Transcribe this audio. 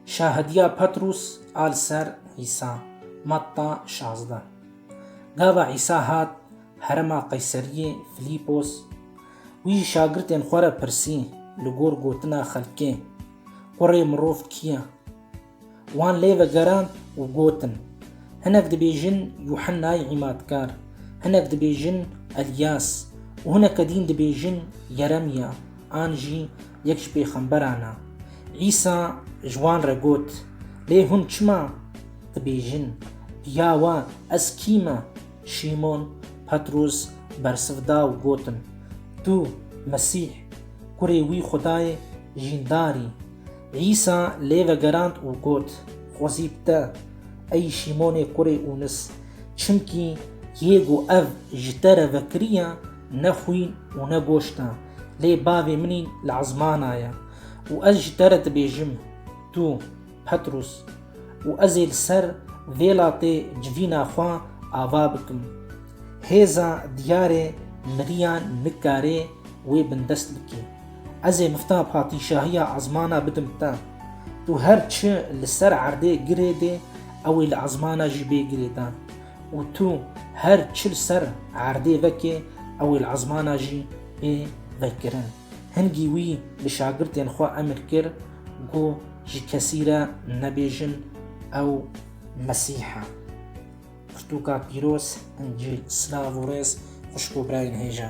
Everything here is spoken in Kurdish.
Şahidîya Petrûs a li ser Îsa, Matta şazdeh. Gava Îsa hat herêma Qeyserîyê Filîpos, wî ji şagirtên xwe re pirsî li gor gotina xelkê, Kurê mirov kî ye? Wan lê vegerand û gotin, Hinek dibêjin Yuhennayê Îmatkar, hinek dibêjin Elîyas û hineke dîn dibêjin Yeremîya an jî yek ji pêxemberan e. Îsa ji wan re got, Lê hûn çima dibêjin, Ya we ez kî me? Şîmon Petros bersiv da û gotin, Tu Mesîh, Kurê wî Xwedayê jîndar î. Îsa lê vegerand û got, Xwezî bi te, ey Şîmonê kurê Ûnis, çimkî yê ku ev ji te re vekiriye ne xwîn û ne goşt e, Lê bavê min în li ezmana ye û ez ji te re dibêjim, tu, Petrûs, û ez ê li ser vê latê civîna xwe ava bikim. Hêza diyarê miriyan nikare wê bindest bike. Ez ê mifta patîşahiya ezmana bidim te. Tu her çi li ser erdê girêdê, ew ê li ezmana jî bê girêdan. Û tu her çil ser erdê vekê ew ê li ezmana jî bê vekirin. Hingî wî bi şagirtên xwe emir kir ku ji kesî re nebêjin ew Mesîh e. Pirtûka pîroz, Încîl. Silav û rêz xwişk û birayên hêja.